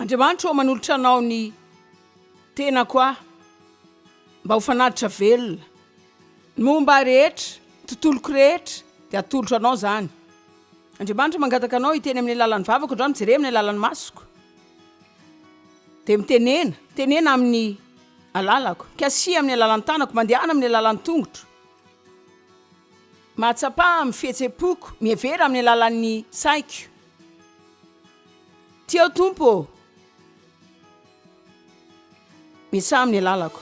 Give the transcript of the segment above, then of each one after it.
Andriamanitra ô manolotra anao ny tenako aho mba ho fanatitra velona ny momba ahy rehetra ny tontoloko rehetra dia atolotro anao zany Andriamanitra mangataka anao hiteny amin'ny alalan'ny vavako ndra mijereha amin'ny alalan'ny masoko dia mitenena tenena amin'ny alalako kasihy amin'ny alalan'ny tanako mandehana amin'ny alalan'ny tongotro Mahatsapa amin'ny fihetsem-poko, mihevera amin'ny alalan'ny saiko. Ty aho Tompo ô, miasaha amin'ny alalako.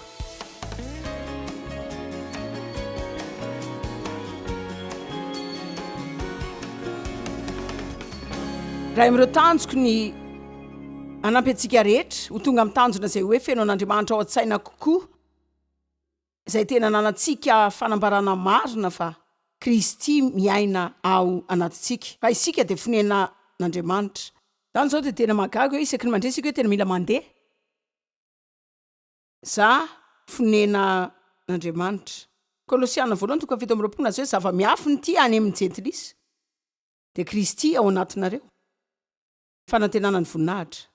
Raha amin'ireo tanjoko ny hanampy antsika rehetra ho tonga amin'ny tanjona izay hoe feno an'Andriamanitra ao an-tsaina kokoa. izay tena ananantsika fanambarana marina fa Kristy miaina ao anatintsika, fa isika dia fonena n'Andriamanitra. Zany zao dia tena mahagaga hoe isaky ny mandre isika hoe tena mila mandeha za fonena n'Andriamanitra. Kolosiana voalohany toko fahafito amby roapolo milaza hoe zava-miafina ity any amin'ny jentilisa dia Kristy ao anatinareo. fanantenana ny voninahitra.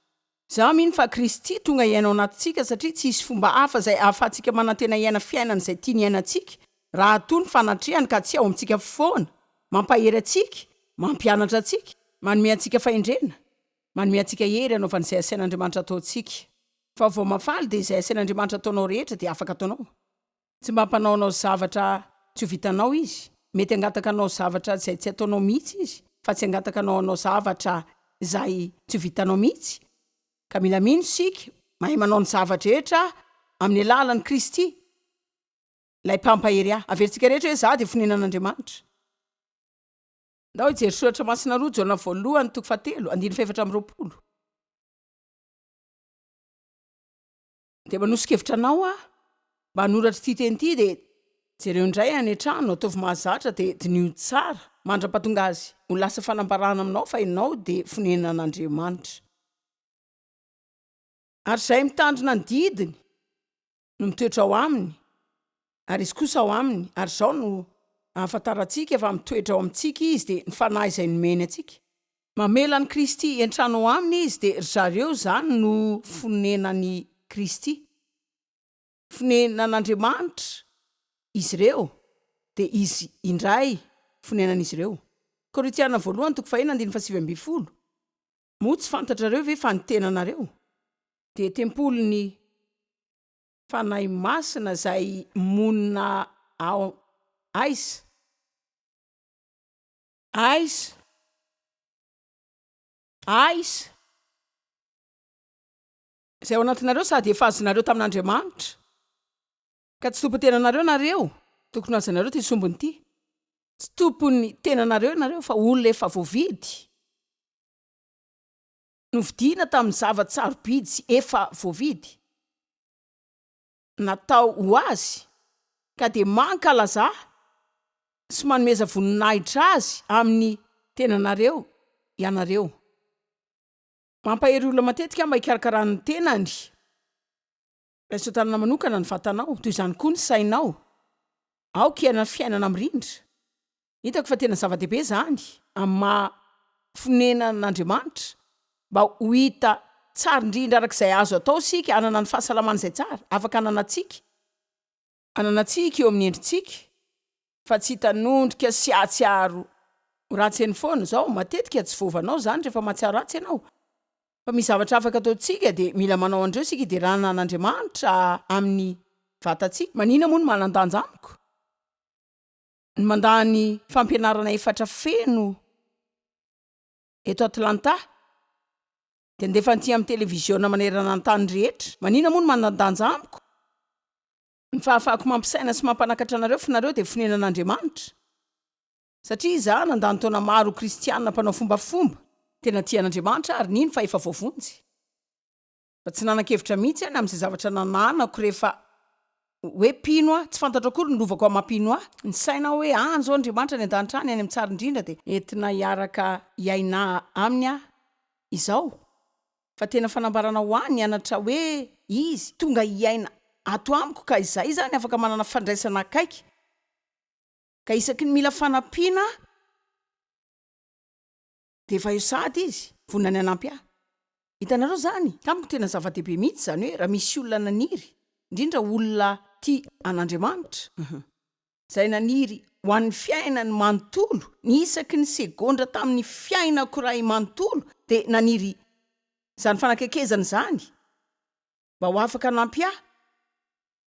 Izaho mino fa Kristy tonga hiaina ao anatintsika satria tsy hisy fomba hafa izay ahafahantsika manantena hiaina fiainana izay tiany hiainantsika raha toa ny fanatrehany ka tsy ao amintsika foana, mampahery antsika, mampianatra antsika, manome antsika fahendrena, manome antsika hery hanaovana izay asain'Andriamanitra ataontsika. Fa vao mahafaly dia izay asain'Andriamanitra ataonao rehetra dia afaka ataonao. Tsy mba hampanao anao zavatra tsy ho vitanao Izy. Mety hangataka anao zavatra izay tsy ataonao mihitsy Izy, fa tsy hangataka anao hanao zavatra izay tsy ho vitanao mihitsy. Ka mila mino isika, mahay manao ny zava-drehetra amin'ny alalan'i Kristy, Ilay Mpampahery ahy. Averintsika rehetra hoe, Izaho dia fonenan'Andriamanitra. Ndao hijery Soratra Masina Roa Jaona Voalohany toko fahatelo, andininy fahefatra amby roapolo. Dia manoso-kevitra anao aho mba hanoratra ity teny ity dia jereo indray any an-trano, ataovy mahazatra dia diniho tsara mandra-pahatonga azy ho lasa fanambarana aminao fa ianao dia fonenan'Andriamanitra. Ary izay mitandrina ny didiny no mitoetra ao aminy Ary Izy kosa ao aminy, ary izao no ahafantarantsika fa mitoetra ao amintsika Izy, dia ny Fanahy izay nomeny antsika. Mamela an'i Kristy hiantrano ao aminy Izy, dia ry zareo izany no fonenan'i Kristy. Fonenan'Andriamanitra izy ireo, dia Izy indray fonenan'izy ireo. Korintiana Voalohany toko faheno andininy fahasivy ambin'ny folo, Moa tsy fantatrareo ve fa ny tenanareo dia tempolin'i. Fanahy Masina izay monina ao Aiza? Aiza? Aiza? Izay ao anatinareo sady efa azonareo tamin'Andriamanitra, ka tsy tompon'ny tenanareo ianareo, tokony hohajanareo ity sombiny ity. Tsy tompon'ny tenanareo ianareo fa olona efa voavidy. Novidiana tamin'ny zava-tsarobidy sy efa voavidy natao ho azy ka dia mankalaza sy manomeza voninahitra azy amin'ny tenanareo ianareo. Mampahery olona matetika mba hikarakarana ny tenany. Raiso an-tanana manokana ny vatanao, toy izany koa ny sainao. Aoka hiainan'ny fiainana mirindra. Hitako fa tena zava-dehibe izany amin'ny maha fonenan'Andriamanitra, mba ho hita tsara indrindra araka izay azo atao isika hanana ny fahasalamana izay tsara, afaka hananantsika. Ananantsika eo amin'ny endritsika fa tsy hitanondrika sy hahatsiaro ratsy eny foana izao, matetika tsy voavanao izany rehefa mahatsiaro ratsy ianao, fa misy zavatra afaka ataontsika dia mila manao an'ireo isika hiderana an'Andriamanitra amin'ny vatantsika. Manina moa no manan-danja amiko? Ny mandà ny fampianarana efatra feno eto Atlanta dia handefa an'ity amin'ny televiziona manerana ny tany rehetra. Manina moa no manan-danja amiko? Ny fahafahako mampisaina sy mampanakatra anareo fa nareo dia fonenan'Andriamanitra. Satria izaho nandany taona maro ho kristiana mpanao fombafomba. Tena tia an'Andriamanitra aho ary nino fa efa voavonjy. Fa tsy nanan-kevitra mihitsy aho ny amin'izay zavatra nananako rehefa. hoe mpino aho, tsy fantatro akory ny lovako amam-pino ahy, ny saina aho hoe any izao Andriamanitra any an-danitra any, any amin'ny tsary indrindra dia. Entina hiaraka hiaina aminy aho izao, fa tena fanambarana ho ahy ny anatra hoe Izy tonga hiaina ato amiko ka izahay izany afaka manana fandraisana akaiky, ka isaky ny mila fanampiana aho, Dia efa eo sahady izy, vonona ny hanampy ahy. Hitanareo izany? Tamiko tena zava-dehibe mihitsy izany hoe raha misy olona naniry, indrindra olona tia an'Andriamanitra, izay naniry ho an'ny fiainany manontolo, ny isaky ny segondra tamin'ny fiainako iray manontolo dia naniry izany fanakekezana izany, mba ho afaka hanampy ahy.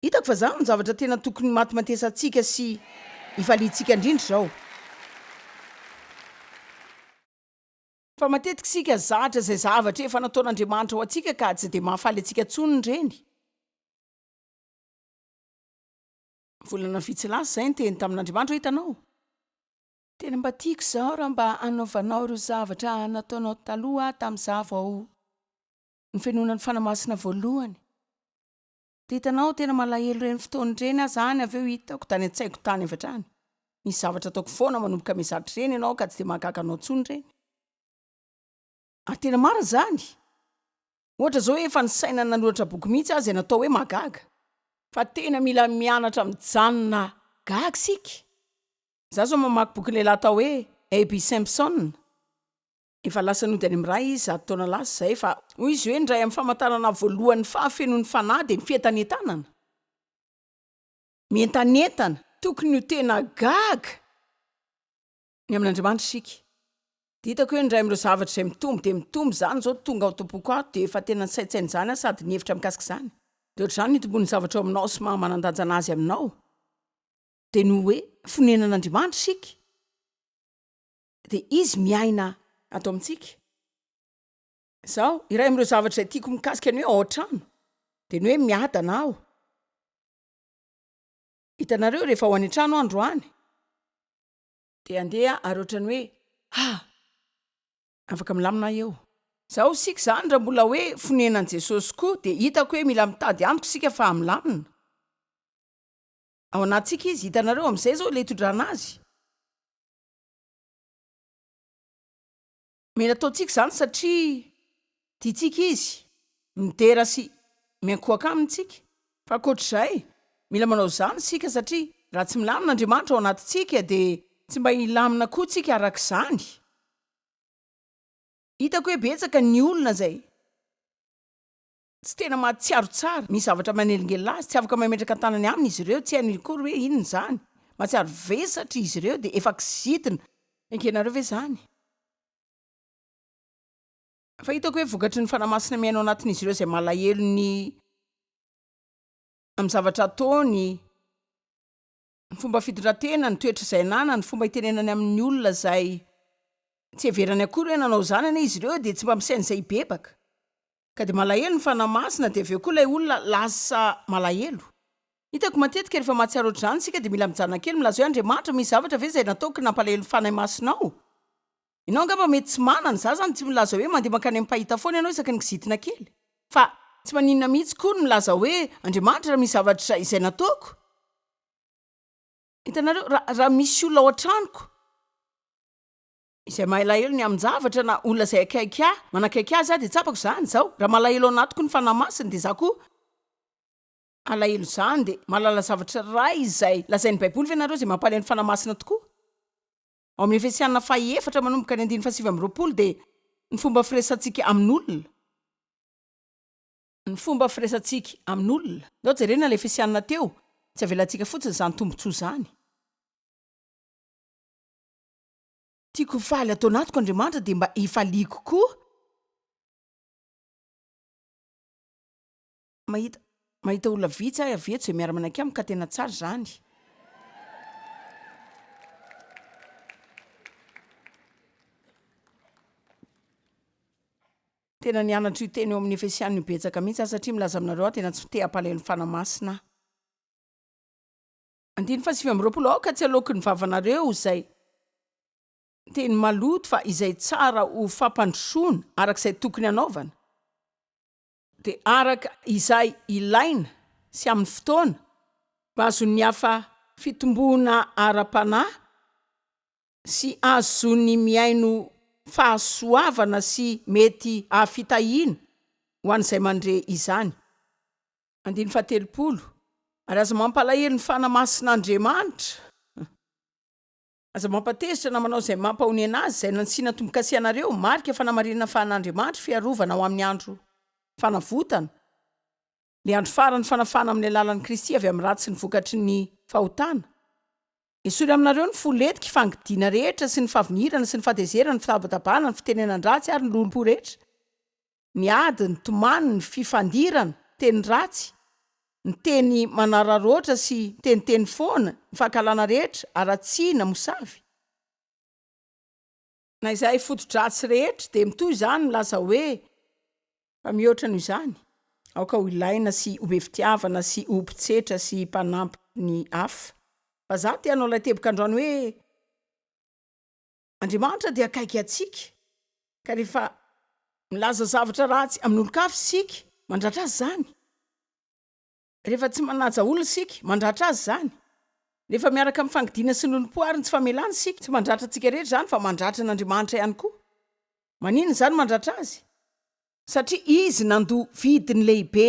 Hitako fa izany no zavatra tena tokony himatimatesantsika sy hifaliantsika indrindra izao. Fa matetika isika zatra izay zavatra efa nataon'Andriamanitra ho antsika ka tsy dia mahafaly antsika intsony ireny. Volana vitsy lasa izay, niteny tamin'Andriamanitra aho, Hitanao, tena mba tiako izao raha mba hanaovanao ireo zavatra nataonao taloha tamin'izaho vao ny fenonan'ny fanahy masina voalohany dia hitanao tena malahelo ireny fotoana ireny aho zany avy eo hitako tany an-tsaiko tany avy hatrany misy zavatra ataoko foana manomboka mizatra ireny ianao ka tsy dia mahagaga anao intsony ireny ary tena marina izany ohatra izao efa ny saina nanoratra boky mihitsy aho izay natao hoe mahagaga fa tena mila mianatra mijanona gaga isika za zao mamaky bokin'ilay lahy atao hoe Aby Simpson Efa lasa nody any amin'ny Ray izy zato taona lasa izay, fa, hoy izy hoe, ny iray amin'ny famantarana voalohan'ny fahafenoan'ny Fanahy dia ny fientanentanana. Mientanentana! Tokony ho tena gaga ny amin'Andriamanitra isika, dia hitako hoe ny iray amin'ireo zavatra izay mitombo dia mitombo izany izao tonga ao am-poko ato, dia efa tena nisaintsaina izany aho sady nihevitra mikasika izany. Dia hoatr'izany ny itomboan'ny zavatra ao aminao sy maha manan-danja an'Azy aminao, dia ny hoe, Fonenan'Andriamanitra isika. dia Izy miaina ato amintsika. Izao, iray amin'ireo zavatra izay tiako mikasika ny hoe ao an-trano, dia ny hoe miadana aho. Hitanareo, rehefa ho any an-trano aho androany, dia andeha ary ohatran'ny hoe, ha! afaka milamina aho eo. Izao, isika izany, raha mbola hoe fonenan'i Jesosy koa, dia hitako hoe mila mitady Amiko isika fa hamilamina. Ao anatintsika Izy. Hitanareo, amin'izay izao ilay hitondrana Azy. Mila ataontsika izany satria tiantsika izy, midera sy miankohoka aminy isika. Fa ankoatra izay, mila manao izany isika satria raha tsy milamina Andriamanitra ao anatintsika dia tsy mba hilamina koa isika araka izany. Hitako hoe betsaka ny olona izay. Tsy tena mahatsiaro tsara ny zavatra manelingelina azy, tsy afaka mametraka tanany aminy izy ireo, tsy hainy akory hoe inona izany. Mahatsiaro vesatry izy ireo dia efa kizitina. Engenareo ve izany? Fa hitako hoe vokatry ny Fanahy Masina mihaino ao anatin'izy ireo izay malahelo ny amin'ny zavatra ataony, ny fomba fitondran-tena, ny toetra izay ananany, ny fomba itenenany amin'ny olona izay tsy heverany akory hoe nanao izany anie izy ireo dia tsy mba misaina izay hibebaka ka dia malahelo ny Fanahy Masina dia avy eo koa ilay olona lasa malahelo. Hitako matetika rehefa mahatsiaro ohatr'izany isika dia mila mijanona kely milazao hoe Andriamanitra, misy zavatra ve izay nataoko nampalahelo ny Fanahy Masina aho? Ianao angamba mety tsy manana, za zany tsy milaza hoe mandeha mankany amin'ny mpahita foana ianao isaky ny kizitina kely, fa tsy maninona mihitsy koa ny milaza hoe Andriamanitra raha misy zavatra izay nataoko, hitanareo, raha, raha misy olona ao an-tranoko izay mahalahelo ny amin-javatra na olona izay akaiky ahy, manakaiky ahy za dia tsapako zany izao, raha malahelo ao anatiko ny Fanahy Masina dia za koa alahelo izany, dia mahalala zavatra iray izay lazain'ny Baiboly ve ianareo izay mampalahelo ny Fanahy Masina tokoa? ao amin'ny Efesiana faha efatra manomboka ny andininy fahasivy amby roapolo dia ny fomba firesantsika amin'olona. Ny fomba firesantsika amin'olona. Ndao jerena ilay Efesiana teo, tsy avelantsika fotsiny izany tombontsoa izany. Tiako ho faly ato anatiko Andriamanitra dia mba hifaliako koa. mahita mahita olona vitsy ahy avy eto izay miara-manaiky amiko ka tena tsara izany. Tena nianatra io teny eo amin'ny Efesiana io betsaka mihitsy aho satria milaza aminareo aho tena tsy te-hampalahelo ny Fanahy Masina aho. Andiny fahasivy amby roapolo aoka tsy aloky ny vavanareo izay teny maloto fa izay tsara ho fampandrosoana araka izay tokony hanaovana. dia araka izay ilaina sy amin'ny fotoana mba azon'ny hafa fitomboana ara-panahy sy azony mihaino fahasoavana sy mety hahafitahiana ho an'izay mandre izany. Andininy fahatelopolo, Ary aza mampalahelo ny fanamasin'Andriamanitra. Aza mampatezitra na manao izay mampahonena azy izay nansiana tombo-kase anareo, marika fanamarinana fa an'Andriamanitra fiarovana ho amin'ny andro fanavotana, ilay andro farany fanafahana amin'ny alalan'i Kristy avy amin'ny ratsy sy ny vokatry ny fahotana. Esory aminareo ny fo letiky, ny fangidiana rehetra sy ny fahavinirana sy ny fahatezerana, ny fitabatabana, ny fitenenan-dratsy ary ny lolompo rehetra. ny ady, ny tomany, ny fifandirana, ny teny ratsy, ny teny manararaotra sy miteniteny foana, ny fankahalana rehetra, haratsiana, ny mosavy. Na izay foto-dratsy rehetra dia mitohy izany milaza hoe, Fa mihoatra noho izany, aoka ho ilaina sy ho be fitiavana sy ho mpitsetra sy mpanampy ny hafa. Vazaha te hanao ilay teboka androany hoe. Andriamanitra dia akaiky antsika, ka rehefa milaza zavatra ratsy amin'olon-kafa isika, mandratra azy izany. Rehefa tsy manaja olona isika, mandratra azy izany. Rehefa miaraka amin'ny fangidiana sy lolompo ary ny tsy famelana isika, tsy mandratra antsika rehetra izany, fa mandratra an'Andriamanitra ihany koa. Maninona izany mandratra azy? Satria izy nandoa vidiny lehibe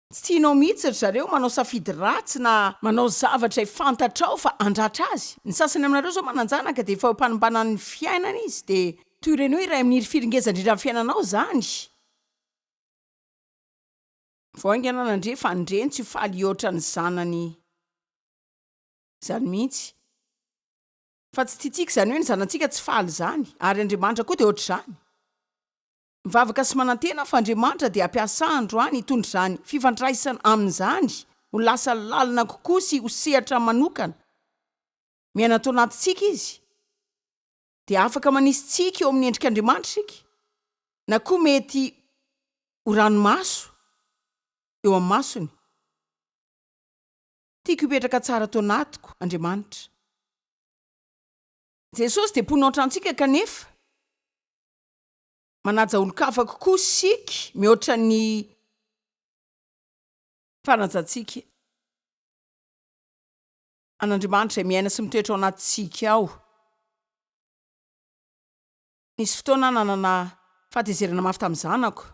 Tsy tianao mihitsy ry zareo manao safidy ratsy na manao zavatra e fantatrao fa andratra azy. Ny sasany aminareo zao mananjanaka dia efa eo am-panimbanan'ny fiainana izy dia toy ireny hoe iray amin'ny hirifiry ngeza indrindra amin'ny fiainanao zany. Vao haingana nandre fa ny reny tsy faly hihoatra ny zanany zany mihitsy. Fa tsy tiantsika izany hoe ny zanantsika tsy faly izany. Ary Andriamanitra koa dia ohatr'izany. Mivavaka sy manantena aho fa Andriamanitra dia hampiasa androany hitondra izany fifandraisana Aminy izany ho lasa lalina kokoa sy ho sehatra manokana. Miaina ato anatintsika Izy. Dia afaka manisy tsiky eo amin'ny endrik'Andriamanitra isika, na koa mety ho ranomaso eo amin'ny masony. Tiako hipetraka tsara ato anatiko, Andriamanitra. Jesosy dia mponina ohatrantsika kanefa Manaja olon-kafa kokoa isika mihoatra ny fanajantsika an'Andriamanitra izay miaina sy mitoetra ao anatintsika ao. Nisy fotoana aho nanana fahatezerana mafy tamin'ny zanako.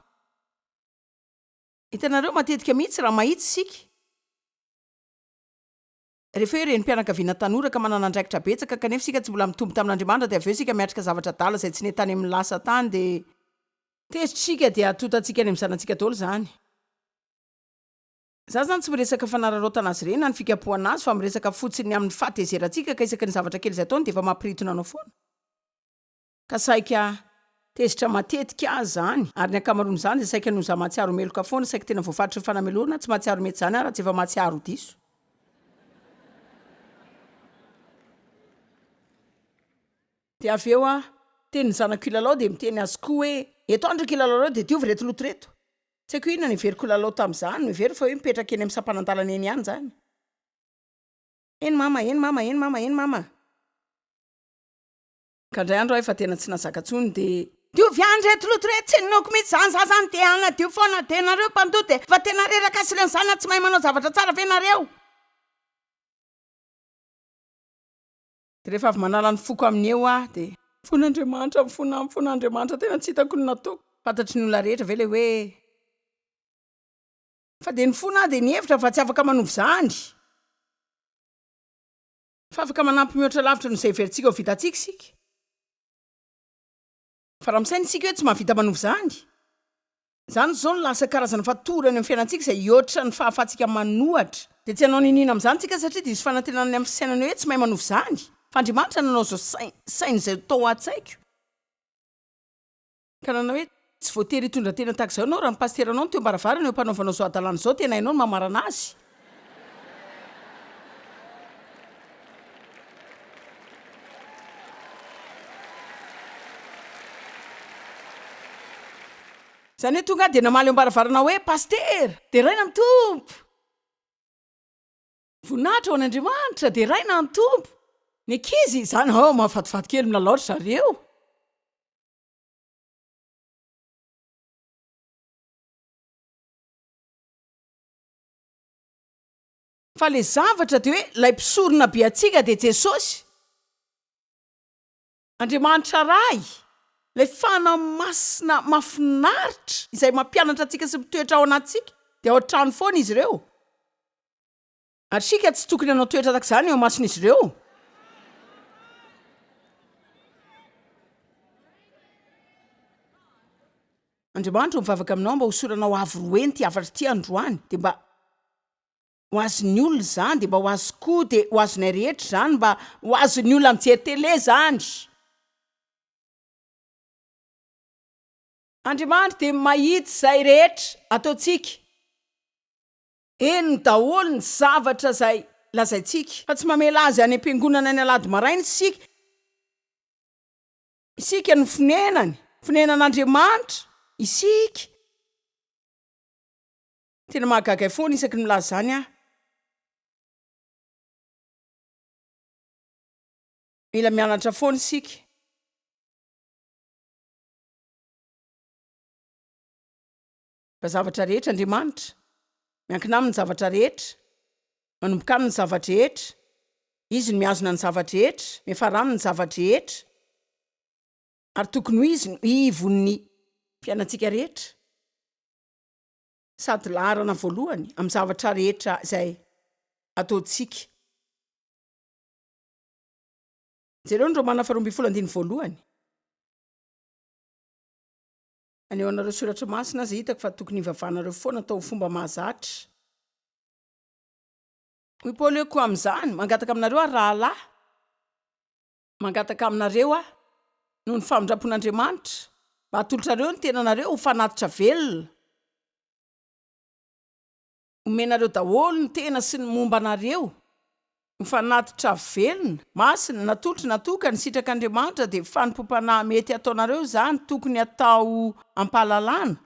Hitanareo, matetika mihitsy raha mahitsy isika, Rehefa hoe renim-pianakaviana tanora ka manana andraikitra betsaka kanefa isika tsy mbola mitombo tamin'Andriamanitra dia avy eo isika miatrika zavatra adala izay tsy nety tany amin'ny lasa tany dia tezitra isika dia atontantsika any amin'ny zanatsika daholo izany. Za zany tsy miresaka fanararaotana azy ireny na ny fikapohana azy fa miresaka fotsiny amin'ny fahatezerantsika ka isaky ny zavatra kely izay ataony dia efa mampiritona anao foana. ka saika tezitra matetika aza izany, ary ny ankamaroan'izany dia saika noho izaho mahatsiaro meloka foana, saika tena voafaritry ny fanamelorana, tsy mahatsiaro mety izany aho raha tsy efa mahatsiaro diso. Dia avy eo aho, teny ny zanako hilalao dia miteny azy koa hoe, eto aho ndry ka hilalaoreo dia diovy ireto loto ireto. Tsy haiko inona no heveriko ho lalao tamin'izany, noheveriko fa hoe mipetraka eny amin'ny sampanan-dalana eny ihany izany. Eny mama, eny mama, eny mama, eny mama. Ka ndray andro ahy fa tena tsy nazaka tsony de. Diovy any reto loto reto tsy ninoako mitsy zany za zany de hanadio fona de nareo mpandoa de fa tena reraka sy reny zany a tsy mahay manao zavatra tsara ve nareo. De refa avy manala ny foko aminy eo aho de. Fona Andriamanitra mifona amiko fona Andriamanitra tena tsy hitako ny nataoko. Fantatry ny olona rehetra ve le hoe. Fa de nifona aho de nihevitra fa tsy afaka manova izany. Fa afaka manampy mihoatra lavitra noho izay heverintsika ho vitantsika isika. Fa raha misaina isika hoe tsy mahavita manova izany, izany izao no lasa karazana fatorana eo amin'ny fiainantsika izay hihoatra ny fahafahantsika manohatra, dia tsy hanao niniana amin'izany isika satria diso fanantenana ny amin'ny fisainana hoe tsy mahay manova izany, fa Andriamanitra nanao izao saina izay ho tao an-tsaiko. ka nanao hoe, Tsy voatery hitondra tena tahaka izao ianao raha ny pasiteranao no teo am-baravarana eo am-panaovanao izao hadalana izao, tena hainao ny mamarana azy. Izany hoe tonga aho dia namaly eo am-baravarana aho hoe, Pasitera, deraina ny Tompo! Voninahitra ho an'Andriamanitra, deraina ny Tompo! Ny ankizy, izany, oh, mahafatifaty kely, milalao ry zareo. Fa le zavatra de hoe lay mpisorona be antsika de Jesosy, Andriamanitra Ray, lay Fanahy Masina mafinaritra izay mampianatra antsika sy mitoetra ao anatintsika, de ao an-trano foana izy ireo. Ary isika tsy tokony hanao toetra tahaka izany eo imason'izy ireo. Andriamanitra no mivavaka aminao mba hosoranao avo roeny ity hafatra ity androany dia mba ho azon'ny olona izany dia mba ho azy koa dia ho azonay rehetra izany mba ho azon'ny olona mijery tele izany Andriamanitra dia mahita izay rehetra ataontsika Henony daholo ny zavatra izay lazaintsika, fa tsy mamela azy any am-piangonana ny Alahady maraina isika. Isika no fonenany, fonenan'Andriamanitra isika. Tena mahagaga ahy foana isaky ny milaza izany aho. Mila mianatra foana isika. Fa zavatra rehetra Andriamanitra, miankina Aminy ny zavatra rehetra, manomboka Aminy ny zava-drehetra, Izy no mihazona ny zava-drehetra, miafara Aminy ny zava-drehetra, ary tokony ho Izy no ivon'ny. Fiainantsika rehetra, sady laharana voalohany amin'ny zavatra rehetra izay ataontsika. Jereo ny Romana faharoa ambin'ny folo andininy voalohany. Any ao anareo soratra masina aza hitako fa tokony hivavahanareo foana atao ho fomba mahazatra. Hoy Paoly hoe, Koa amin'izany, mangataka aminareo aho, rahalahy, mangataka aminareo aho, noho ny famindram-pon'Andriamanitra, mba hatolotrareo ny tenanareo ho fanatitra velona, omenareo daholo ny tena sy ny momba anareo, ny fanatitra velona, masina, natolotry natoka ny sitrak' Andriamanitra dia fanompoam-panahy mety hataonareo izany tokony hatao am-pahalalana,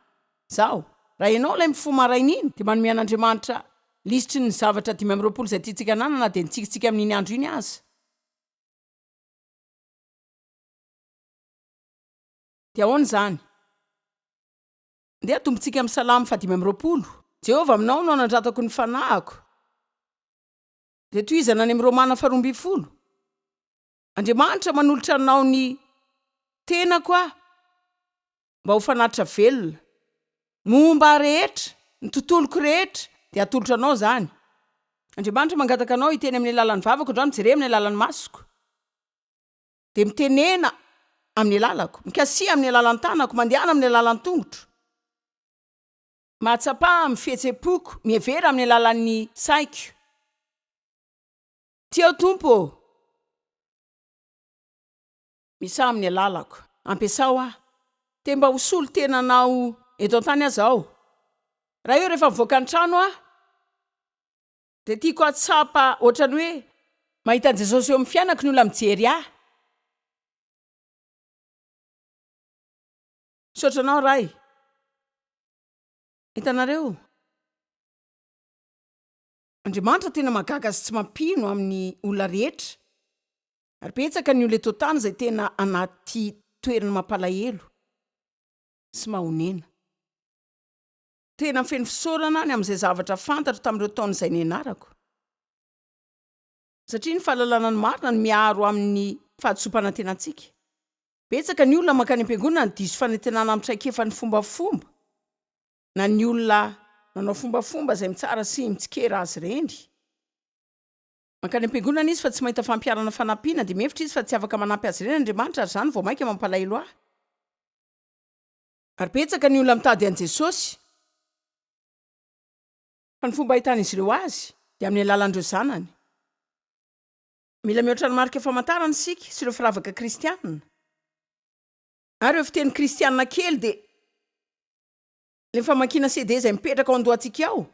zao, raha ianao ilay mifoha maraina iny dia manome an' Andriamanitra lisitry ny zavatra dimy amby roapolo izay tiantsika hanana na dia ny tsikintsika amin' iny andro iny aza. Dia ahoana izany? Ndeha hatombontsika amin'ny Salamo fahadimy amby roapolo. Jehovah, aminao no anandratako ny fanahiko. Dia tohizana any amin'ny Romana faharoa ambin'ny folo, Andriamanitra, manolotra anao ny tenako aho mba ho fanatitra velona. Momba ahy rehetra, ny tontoloko rehetra, dia atolotra anao izany. Andriamanitra, mangataka anao hiteny amin'ny alalan'ny vavako, androany jereo amin'ny alalan'ny masoko. dia mitenena amin'ny alalako, mikasiha amin'ny alalan'ny tanako, mandehana amin'ny alalan'ny tongotro, mahatsapa amin'ny fihetsem-poko, mihevera amin'ny alalan'ny saiko. Tia aho Tompo ô! Misaha amin'ny alalako. Ampiasao aho. Te mba ho solon-tenanao eto an-tany aza aho. Raha eo rehefa mivoaka ny trano aho, Dia tiako hahatsapa ohatran'ny hoe mahita an'i Jesosy eo amin'ny fianako ny olona mijery ahy. Misaotra anao Ray. Hitanareo? Andriamanitra tena mahagaga sy tsy mampino amin'ny olona rehetra. Ary betsaka ny olona eto an-tany izay tena anaty toerana mampalahelo sy mahonena. Tena feno fisaorana ny amin'izay zavatra fantatro tamin'ireo taona izay nianarako, satria ny fahalalana ny marina no miaro amin'ny fahadisoam-panantenantsika. Betsaka ny olona mankany am-piangonana no diso fanantenana amin'ny traikefan'ny fombafomba, na ny olona manao fombafomba izay mitsara sy mitsikera azy ireny. Mankany am-piangonana izy fa tsy mahita fampiharana fanampiana, dia mihevitra izy fa tsy afaka manampy azy ireny Andriamanitra, ary izany vao mainka mampalahelo ahy. Ary betsaka ny olona mitady an'i Jesosy. Fa ny fomba ahitan'izy ireo Azy dia amin'ny alalan'ireo zanany. Mila mihoatra ny marika famantarana isika sy ireo firavaka kristiana. Ary ireo fiteny kristiana kely dia ilay famakiana CD izay mipetraka ao an-dohantsika ao.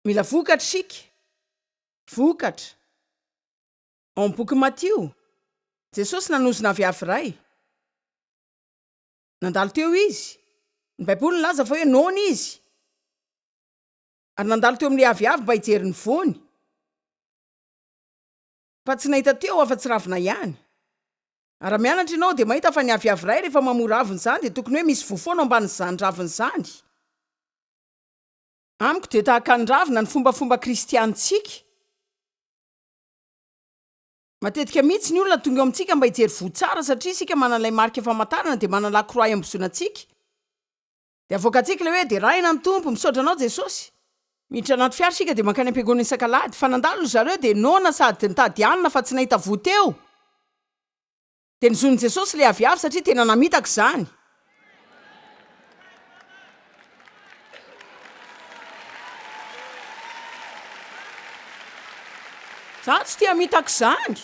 Mila vokatra isika. Vokatra. Ao amin'ny bokin'i Matio, Jesosy nanozona aviavy iray. Nandalo teo izy. Ny Baiboly nilaza fa hoe noana izy, ary nandalo teo amin'ilay aviavy mba hijery ny voany, fa tsy nahita teo afa-tsy ravina ihany. Ary raha mianatra ianao, dia mahita fa ny aviavy iray rehefa mamoa ravina izany, dia tokony hoe misy voa foana ao ambanin'izany ravina izany. Amiko dia tahaka ny ravina ny fombafomba kristianintsika. Matetika mihitsy ny olona tonga eo amintsika mba hijery voa tsara satria isika manana ilay marika famantarana dia manana la croix iambozona antsika dia avoakantsika ilay hoe Derahina ny Tompo, misaotra anao Jesosy. Miditra anaty fiara isika dia mankany am-piangonana isak'alahady. Fa nandalo ry zareo dia noana sady nitady hanina fa tsy nahita voa teo. Dia nozon'i Jesosy ilay aviavy satria tena namitaka izany. Izaho tsy te hamitaka izany.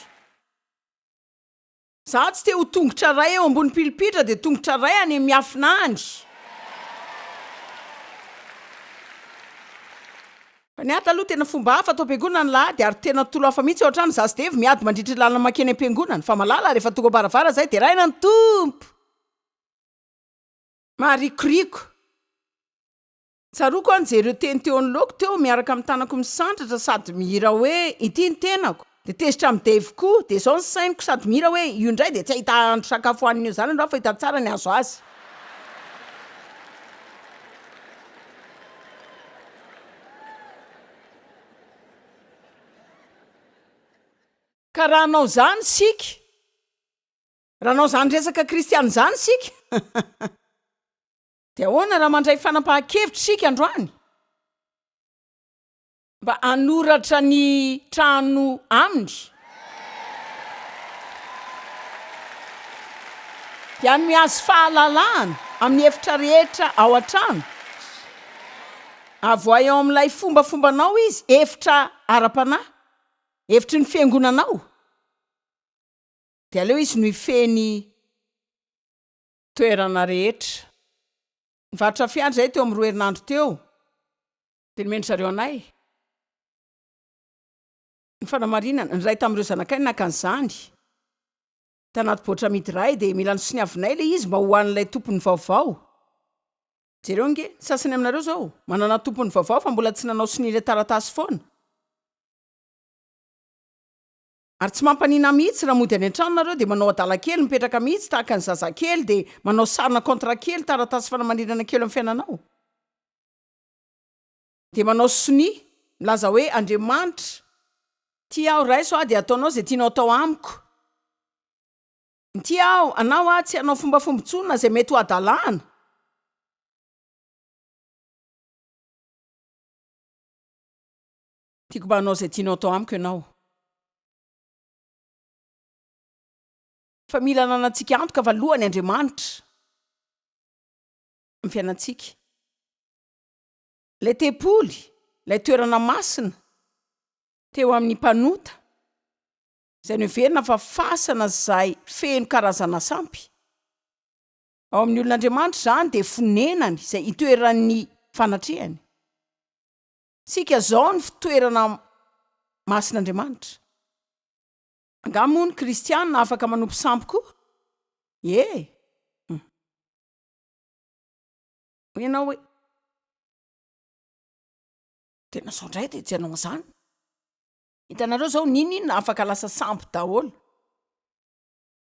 Izaho tsy te ho tongotra iray eo ambony pilipitra dia tongotra iray any amin'ny miafina any. Ny ady aloha tena fomba hafa ato am-piangonana ny lahady ary tena tolo hafa mihitsy ao an-trano za sy Dave miady mandritra ny lalana mankeny am-piangonana fa malala rehefa tonga am-baravara zay deraina ny Tompo! Maharikoriko. Tsaroako aho nijery io teny teo anoloako teo miaraka amin'ny tanako misandratra sady mihira hoe, Ity ny tenako. Dia tezitra amin'i Dave koa, dia izao ny sainiko sady mihira hoe, io indray dia tsy hahita hahandro sakafo hohanin'ny eo zanany raho fa hita tsara ny hahazo azy. Ka raha hanao izany isika, raha hanao izany resaka kristiana izany isika, dia ahoana raha mandray fanapahan-kevitra isika androany? mba hanoratra ny trano aminy, dia ny mihazo fahalalahana amin'ny efitra rehetra ao an-trano, avoahy ao amin'ilay fombafombanao izy, efitra ara-panahy, efitry ny fiangonanao, dia aleo izy no hifehy ny toerana rehetra. Nivarotra fiara izahay teo amin'ny roa herinandro teo, Dia nomen-dry zareo anay ny fanamarinana. Ny iray tamin'ireo zanakay naka an'izany tanaty baoritra amidy iray, dia mila nosoniavinay ilay izy mba ho an'ilay tompony vaovao. Jereo ange, ny sasany aminareo izao manana tompony vaovao fa mbola tsy nanao sonia ilay taratasy foana. Ary tsy mampaninona mihitsy raha mody any an-trano nareo dia manao adala kely, mipetraka mihitsy tahaka ny zazakely, dia manao sarina contrat kely, taratasy fanamarinana kely eo amin'ny fiainanao. Dia manao sonia, milaza hoe, Andriamanitra, tia aho, raiso aho dia ataonao izay tianao atao amiko. Mitia aho, anao aho, tsy hanao fombafomba intsony na izay mety ho hadalana. Tiako mba hanao izay tianao atao amiko ianao. Fa mila ananantsika antoka fa lohany Andriamanitra. ny fiainantsika. Ilay tempoly, ilay toerana masina teo amin'ny mpanota, izay noheverina fa fasana izay feno karazana sampy. Ao amin'ny olon'Andriamanitra izany dia fonenany izay itoeran'ny fanatrehany. Isika izao no fitoerana masin'Andriamanitra. Angaha moa ny kristiana afaka manompo sampy koa? Ie. Hum. Ianao hoe, Tena zao indray dia tsy hanao an'izany. Hitanareo izao, n'inon'inona afaka lasa sambo daholo.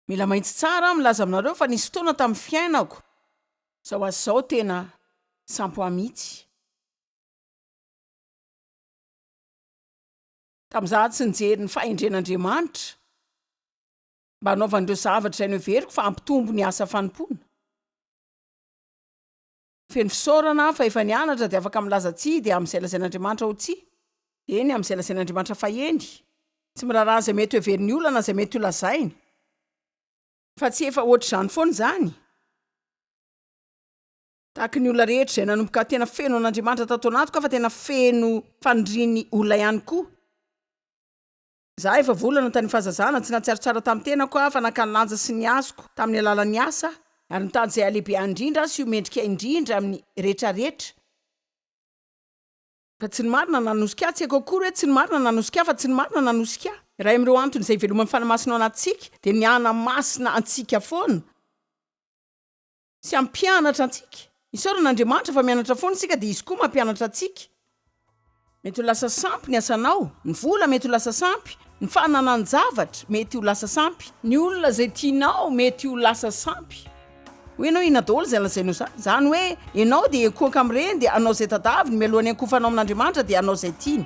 Mila mahitsy tsara aho milaza aminareo fa nisy fotoana tamin'ny fiainako, izao ho azy izao tena sambo ahy mihitsy. Tamin'izaho tsy nijery ny fahendren'Andriamanitra, mba hanaovany ireo zavatra izay noheveriko fa hampitombo ny asa fanompoana. Feno fisaorana aho fa efa nianatra dia afaka milaza tsia dia amin'izay lazain'Andriamanitra ho tsia, eny, amin'izay lazain'Andriamanitra fa eny. Tsy miraharaha izay mety hoheverin'ny olona na izay mety holazainy. Fa tsy efa hoatr'izany foana izany? Tahaka ny olona rehetra izay nanomboka tena feno an'Andriamanitra tato anatiko aho fa tena feno fanirian'ny olona ihany koa. Izaho efa volana tany fahazazana tsy nahatsiaro tsara tamin'ny tenako aho fa nankany lanja sy nihazoko tamin'ny alalan'ny asa aho ary nitady izay halehibe ahy indrindra aho sy ho mendrika indrindra amin'ny retraretra fa tsy ny marina nanosika ahy, tsy haiko akory hoe tsy ny marina nanosika ahy fa tsy ny marina nanosika ahy. Iray amin'ireo antony izay iveloman'ny fanahy masina ao anatintsika dia ny hana masina antsika foana. sy hampianatra antsika. Isaorana Andriamanitra fa mianatra foana isika dia Izy koa mampianatra antsika. Mety ho lasa sampy ny asanao, ny vola mety ho lasa sampy, ny fananan-javatra mety ho lasa sampy, ny olona izay tianao mety ho lasa sampy, hoy ianao inona daholo izay lazainao izany? Izany hoe ianao dia ekoanka amin'ireny dia hanao izay tadaviny mialohan'ny hankofanao amin'Andriamanitra dia hanao izay tiany.